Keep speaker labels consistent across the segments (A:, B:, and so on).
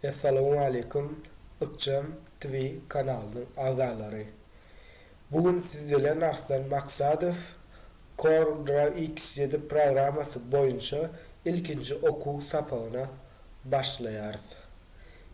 A: Essalawmaleýkum Ykjam TV kanalynyň agzalary. Bu gün siz bilen Arslan Maksadow Cordra X7 programmasy boýunça ilkinji okuw sapagyna başlaýarys.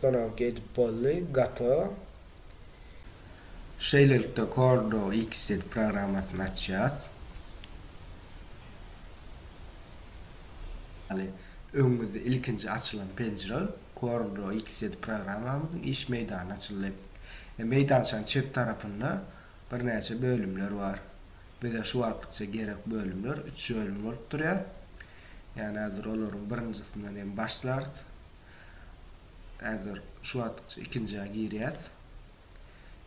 A: Soragyk edip boldy gato. Şeýlelikde Kordo XZ programmasyny açýas. Ýaly öňümizde ilkinji açylan penjire Kordo XZ programmamyzyň iş meýdany açyldy. Meýdançanyň çep tarapynda birnäçe bölümler bar. Bize şu wagtça gerek bölümler üç bölüm bolup durýar. Ýani häzir olaryň birinjisinden hem başlarys. Häzir şu wagtça ikinjä girýäs.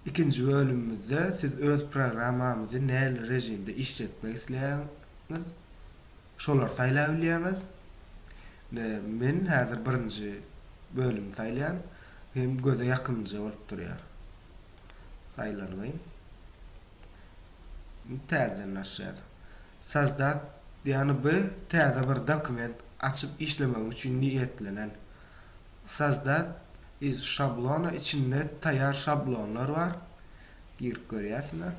A: Ikinji bölümimizde siz öz programmamyzy näli režimde işletmek isleýäňiz, şolary saýlap bilýäňiz. Indi men häzir birinji bölümi saýlaýan. Hem göze ýakymlyja bolup durýar. Saýlanybym. Indi täzeden açýas. Sozdat, ýagny by täze bir dokument açyp işlemegim üçin niýetlenen. Sozdat iz şablona içinde taýýar şablonlar bar. Girip görýärsiňiz.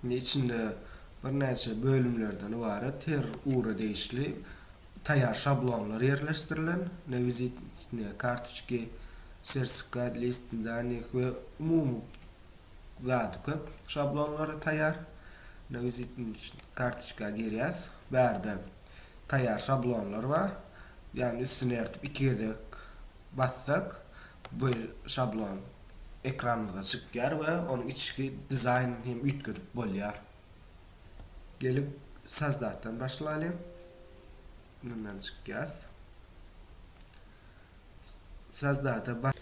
A: Indi içinde birnäçe bölümlerden ybarat her ugura degişli taýýar şablonlar ýerleşdirilen, ne wizitne kartoçki, sertifikat, list danych we umumy zady köp şablonlary taýýar. Ne wizitne kartoçka girýäs, bärde taýýar şablonlar bar, ýagny üstüni ertip iki gezek bassak Bu şablon ekranymyza çykýar we onuň içki dizaýnyny hem üýtgedip bolýar. Gelip sazdatdan başlalyň. Mundan çykýas. Sazdata bas.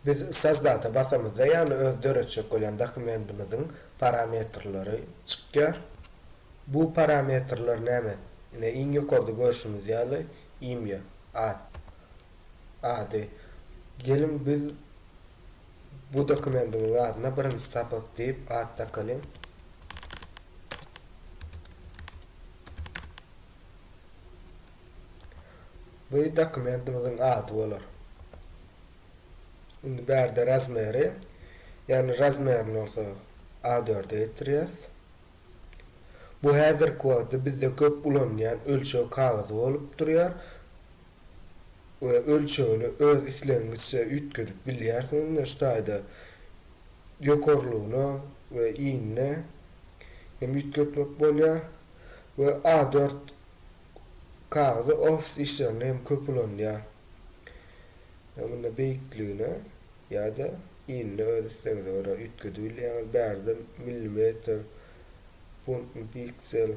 A: Biz sazdata basamyzda ýagny öz döretjek bolýan dokumentimiziň parametrleri çykýar. Bu parametrler näme? Ine iň ýokarda görşümiz ýaly imýa, at. Ady, Geliň biz bu dokumendiň zadyna birinji sapak diýip at dakalyň. Bu dokumentimiziň ady bolar. Indi bärde razmeri, ýagny razmerini bolsa A4-e getirýäs. Bu häzirki wagtda bizde köp ulanylýan ölçeg kagyzy bolup durýar. we ölçegini öz islegiňizçe üýtgedip bilýärsiňiz, indi şu taýda ýokarlygyna we inine hem üýtgetmek bolýar we A dört kagyzy ofis işlerinde hem köp ulanylýar, ýa munda beýikligine ýa-da inine öz islegiňize görä üýtgedibilýäňiz, bärde millimetr, funtmy, piksel,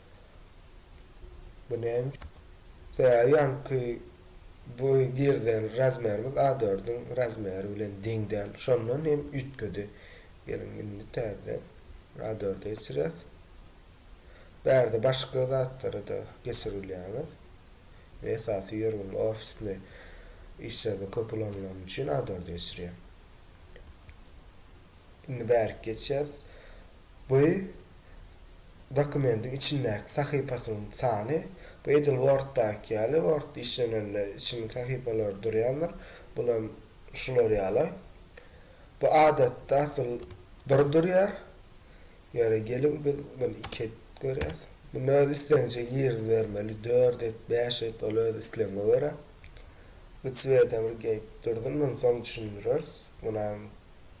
A: Bu näme üçin? Sebäbi ýaňky boý girden razmerimiz A dördüň razmeri bilen deň däl. Şondan hem üýtgedi. Geliň indi täzeden A dörde geçirýäs. Bärde başga zatlara-da geçir bilýäňiz. Men esasy ýörgünli ofisli işlerde köp ulanylany üçin A dörde geçirýän. Indi bärik geçýäs. Bu dokumendiň içindäki sahypasynyň sany, bu edil Word-daky ýaly, Word işlenende içinde sahypalar durýandyr, bulam şular ýaly. Bu adatda asyl bir durýar. Ýöne geliň biz muny iki edip görýäs. Muny öz islegiňçe girizibermeli, dört et, bäş et, ol öz islegiňe görä. Bu Cwede bir gelip dursun, muny soň düşündireris. Munam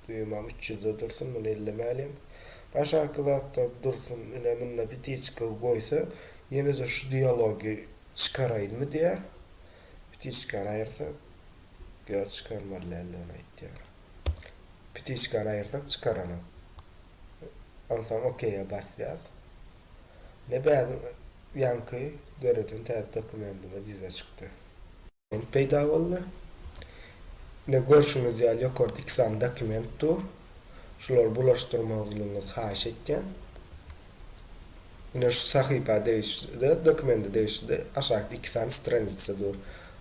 A: Düýmam üç ýüzde dursun, muny ellemälem. Aşaky zatlar dursun, ine munda pitiçka goýsa, ýene-de şu dialogy çykaraýynmy diýýär. Pitiçkany aýyrsak, ýa çykarmaly däldigini aýtýar. Pitiçkany aýyrsak çykaranok. Onsoň okeýe basýas. Ine bäriň ýaňky döreden täze dokumendimiz ýüze çykdy. dokument peýda boldy. Ine, görşüňiz ýaly, ýokarda iki sany dokument dur. Şulary bulaşdyrmazlygyňyzy haýyş etýän. Ine, şu sahypa degişli-de, dokumenta degişli-de aşakda iki sany stranitsa dur.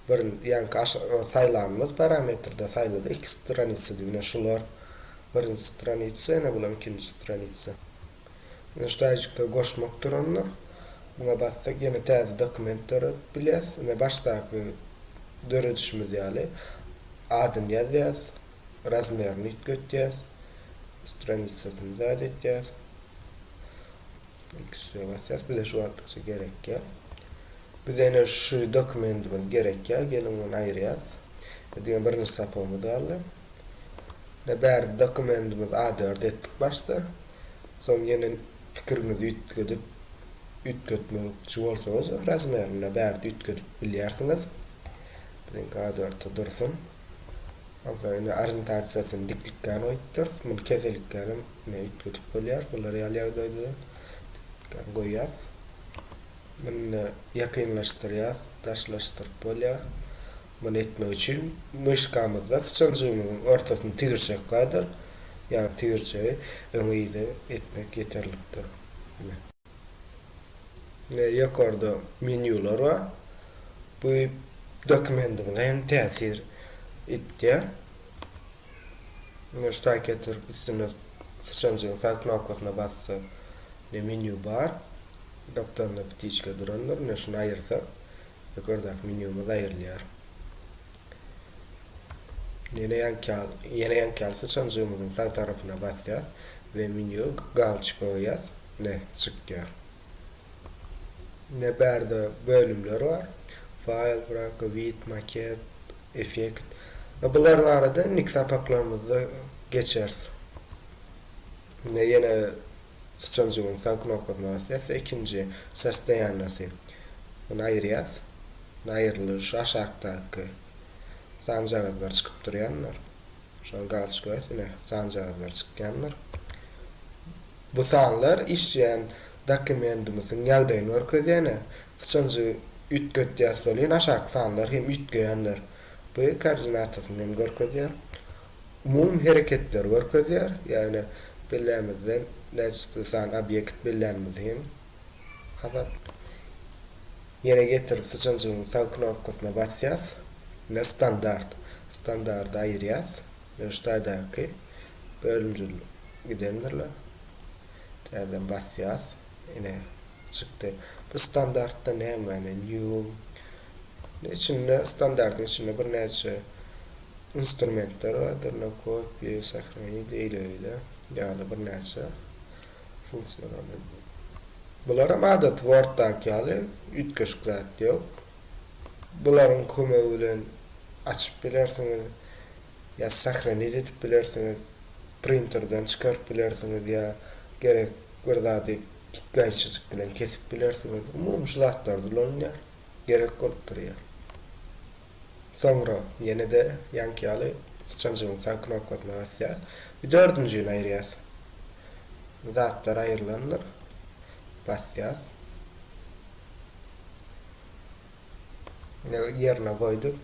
A: Birin, ýaňky aş saýlanymyz parametrde saýladyk iki stranitsady. Ine, şular birinji stranitsa, ine, bulam ikinji stranitsa. Nuşdaýjyklary goşmak duranda, muňa bassak, ýene täze dokument döredip bilýäs. Ine, başdaky döredişimiz ýaly, adyny ýazýas, razmerini üýtgetýäs, stranitsasyny zat etýäs. X'e basýas, bize şu wagtlykça gerekýä. Bize ine şu dokumentimiz gerekýä, geliň ony aýyrýas. Diňe birinji sapagymyz galdy. Ine bärde dokumentimiz A dörd etdik başda. Soň ýene pikiriňizi üýtgedip üýtgetmekçi bolsaňyz razmerini ine bärde üýtgedip bilýärsiňiz. Biziňki A dörtde dursun. Onsoň ine orientasiýasyny diklikkän goýupdyrys. Muny keselikkän hem ine üýtgedip bolýar. Bula real ýagdaýda diklikkän goýýas. Muny ine ýakynlaşdyrýas, daşlaşdyryp bolýar. Muny etmek üçin myşkamyzda syçanjygymyzyň ortasyny tigirçek gadyr, ýagny tigirçegi öňe-yza etmek ýeterlikdir. Ine. Ine ýokarda menýular bar. Bu dokumendimize hem täsir etýär. Ine şu saýta oturyp üstüne syçanjygyň sag knopkasyna bassak, ine menýu bar. Gapdalynda ptiçka durandyr. Ine şuny aýyrsak, Ýokardaky menýumyz aýrylýar. Ýene ýankyýal, ýene ýankyýal syçanjygymyzyň sag tarapyna basýas we menýu galçyk goýýas. Ine, çykýar. Ine bärde bölümler bar. Faýl, Brak, Wid, Maket, Effekt. Bular barada indiki sapaklarymyzda geçeris. Ine ýene Syçanjygyň sag knopkasyna basýas we ikinji Sostoýannosy Muny aýyrýas. Muny aýyrylýar. Şu aşakdaky sanjagazlar çykyp durýandyr. Şony galçyk bas ine sanjagazlar çykýandyr. Bu sanlar işleýän dokumendimiziň ýagdaýyny görkezýän. Syçanjygy üýtgetýäs soleýin aşaky sanlar hem üýtgeýändir. Bu koordinatasyny hem görkezýär. Mum hereketleri görkezýär, ýagny bellämizden näçe sany obýekt bellänimizi hem hasap Ýene getirip syçanjygyň sag knopkasyna basýas we standart standardy aýyrýas we şu taýdaky bölümjil gidendirler täzeden basýas ine çykdy bu standartda nämäni new içinde standartyň içinde birnäçe Instrumentler bardyr, nakopie, sohranit, eýle-beýle ýaly birnäçe funksiýalary. Bularam adaty Word-daky ýaly üýtgeşik zat ýok. Bularyň kömegi bilen açyp bilersiňiz ýa sohranit edip bilersiňiz, printerden çykaryp bilersiňiz ýa gerek bir zady gaýçyjyk bilen kesip bilersiňiz. Umumy şu zatlarda ulanylýar, gerek bolup durýar. Soňra ýene-de ýaňky ýaly syçanjygyň sag knopkasyna basýas we dördünjigini aýyrýas. Zatlar aýrylandyr. Basýas. Ine, ýerine goýduk.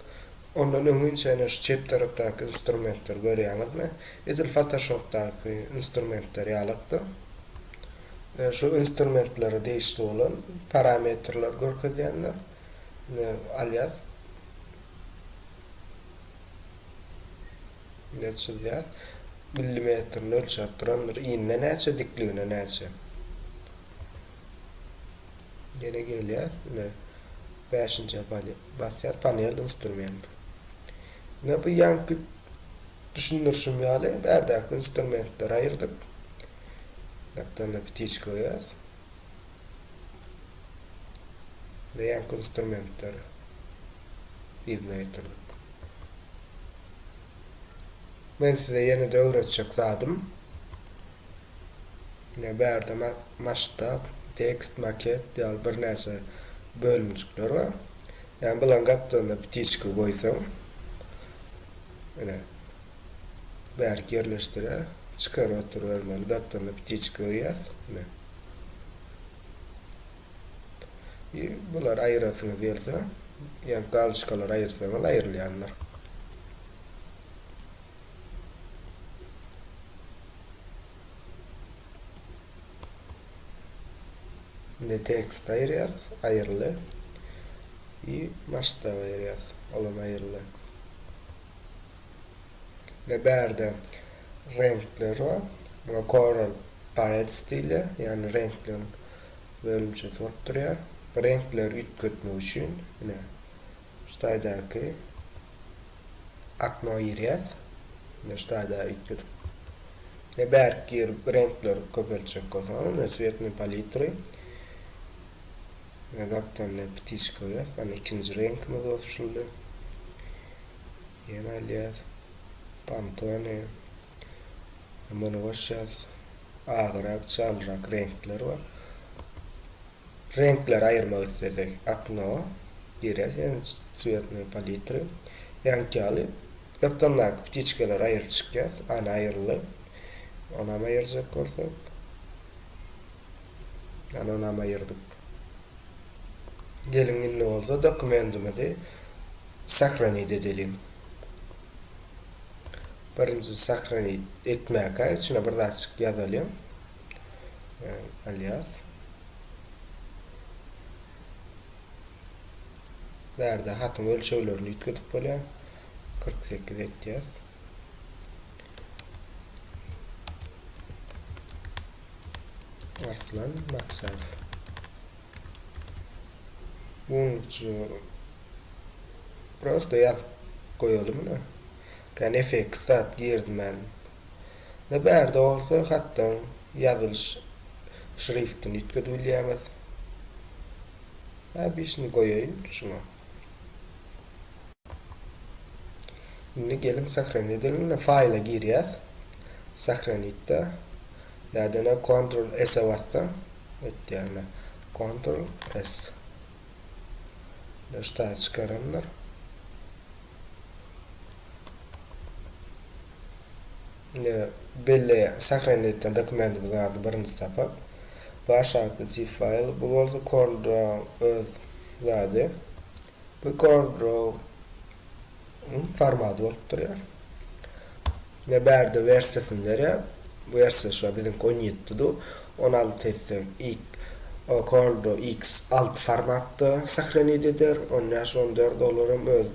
A: Ondan öňinçä ine şu çep tarapdaky instrumentleri görýäňizmi? Edil Photoshopdaky instrumentler ýalykdy. Şu instrumentlere degişli bolan parametrleri görkezýändir. ne alýas, ne çyzýas. Millimetrini ölçäp durandyr. Inne näçe, dikligine näçe. Ýene gelýäs, ne bäşinjä basýas, panel instrument. Ne bu ýanky düşündirişim ýaly, bärdäki instrumentleri aýyrdyk. Laptanda pitiçka goýýas. Beýleki instrumentler yzyna getirdik. Men size ýene-de öwretjek zadym, ine bärde masştab, tekst, maket ýaly birnäçe bölümjikler bar. Ýagny bularyň gapdalyna ptiçka goýsaň, ine bärik ýerleşdirýär. Çykaryp oturybermeli, gapdalyna ptiçka goýýas, ine. Bulary aýyrasyňyz gelse, ýa galçkalary aýyrsaňyz aýrylýandyr. Indi tekst aýyrýas, aýyryldy. I masştaby aýyrýas, olam aýyryldy. we bärde reňkler bar. Muňa Coral Palets diýilýär, ýagny reňkleriň bölümçesi bolup durýar. Bu reňkleri üýtgetmek üçin ine şu taýdaky akno girýäs. Ine şu taýda üýtgedip. Ine bärik girip reňkleri köpeltjek bolsaňyz, ine Cwetny palitry. Ine gapdan ine ptişka goýýas. Ine ikinji reňkimiz goşuldy. Ýene alýas. Pantone. Muny goşýas. Agyrak, çalyrak reňkler bar. Reňkleri aýyrmak islesek, akno girýäs, ýa-da cwetnoý palitry. Ýaňky ýaly gapdalyndaky ptiçkalary aýryp çykýas. Ana aýryldy. Onam aýyrjak bolsak. Ana onam aýyrdyk. Geliň indi bolsa dokumentimizi sahranit edeliň. Birinji sahranit etmäkä içine bir zatçyk ýazalyň. Alias. Bärde hatyň ölçeglerini ýitgidip bolýar. 48 etýäs. Arslan Maksaýew. Munuň üçin prosta ýazyp goýalymy? Kän effekt zat girizmän. Indi bärde bolsa hatdan ýazylyş şriftini üýtgedip bilýäňiz. Häbi şuny goýaýyn şuňa. Indi geliň sahranit edeliň ine faýla girýäs sahranitde ýa-da ine kontrol s-e bassaň etýär ine kontrol s ine şu taýy çykarandyr indi belli sahranit edilen dokumentimiziň ady birinji sapak bu aşakdaky zip faýl bu bolsa korlda öz zady. Bu Gorndrow-yň formaty bolup durýar. Ine bärde wersiýasyny berýär. Bu wersiýa şular biziňki on ýedi dudu. On alty etse X Gorndrow X alty formatda sahranit eder. On bäş on dört olar hem öz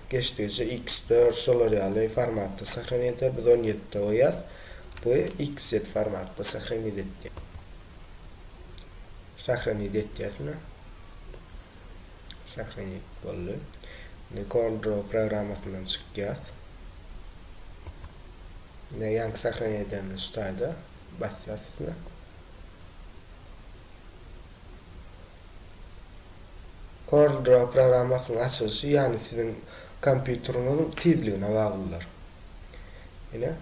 A: geçdigiçe X dört şolar ýaly formatda sahranit eder. Biz on ýedide goýýas. Bu X ýedi formatda sahranit etdi. Sahranit etýäs ine. Sahneý boldy. Indi Kornro programmasyndan çykýas. Ine ýanky sahnany edemde şu taýda basýas üstüne. Kornro programmasynyň açylyşy ýany siziň kompýuteriňiziň tizligine baglydyr. Ine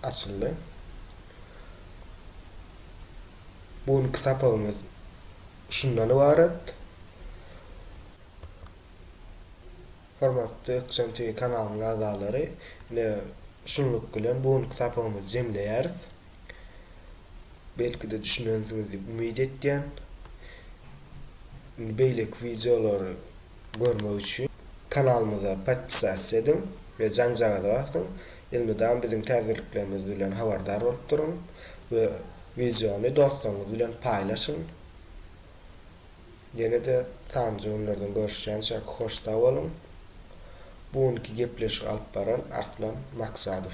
A: açyldy. Bu günki sapagymyz şundan ybarat. Hormatly Ykjam TV kanalynyň agzalary, ine, şunluk bilen bu günki sapagymyzy jemleýäris. Belki-de düşünensiňiz diýip umyt etýän. Indi beýleki wideolary görmek üçin kanalymyza podpisasiýa ediň we jaňjagaza basyň. Elmydam biziň täzeliklerimiz bilen habardar bolup duruň we wideony dostlaryňyz bilen paýlaşyň. Ýene-de sanjy günlerden görüşýänçäk hoş-sag boluň. Bu günki gepleşigi alyp baran Arslan Maksadow.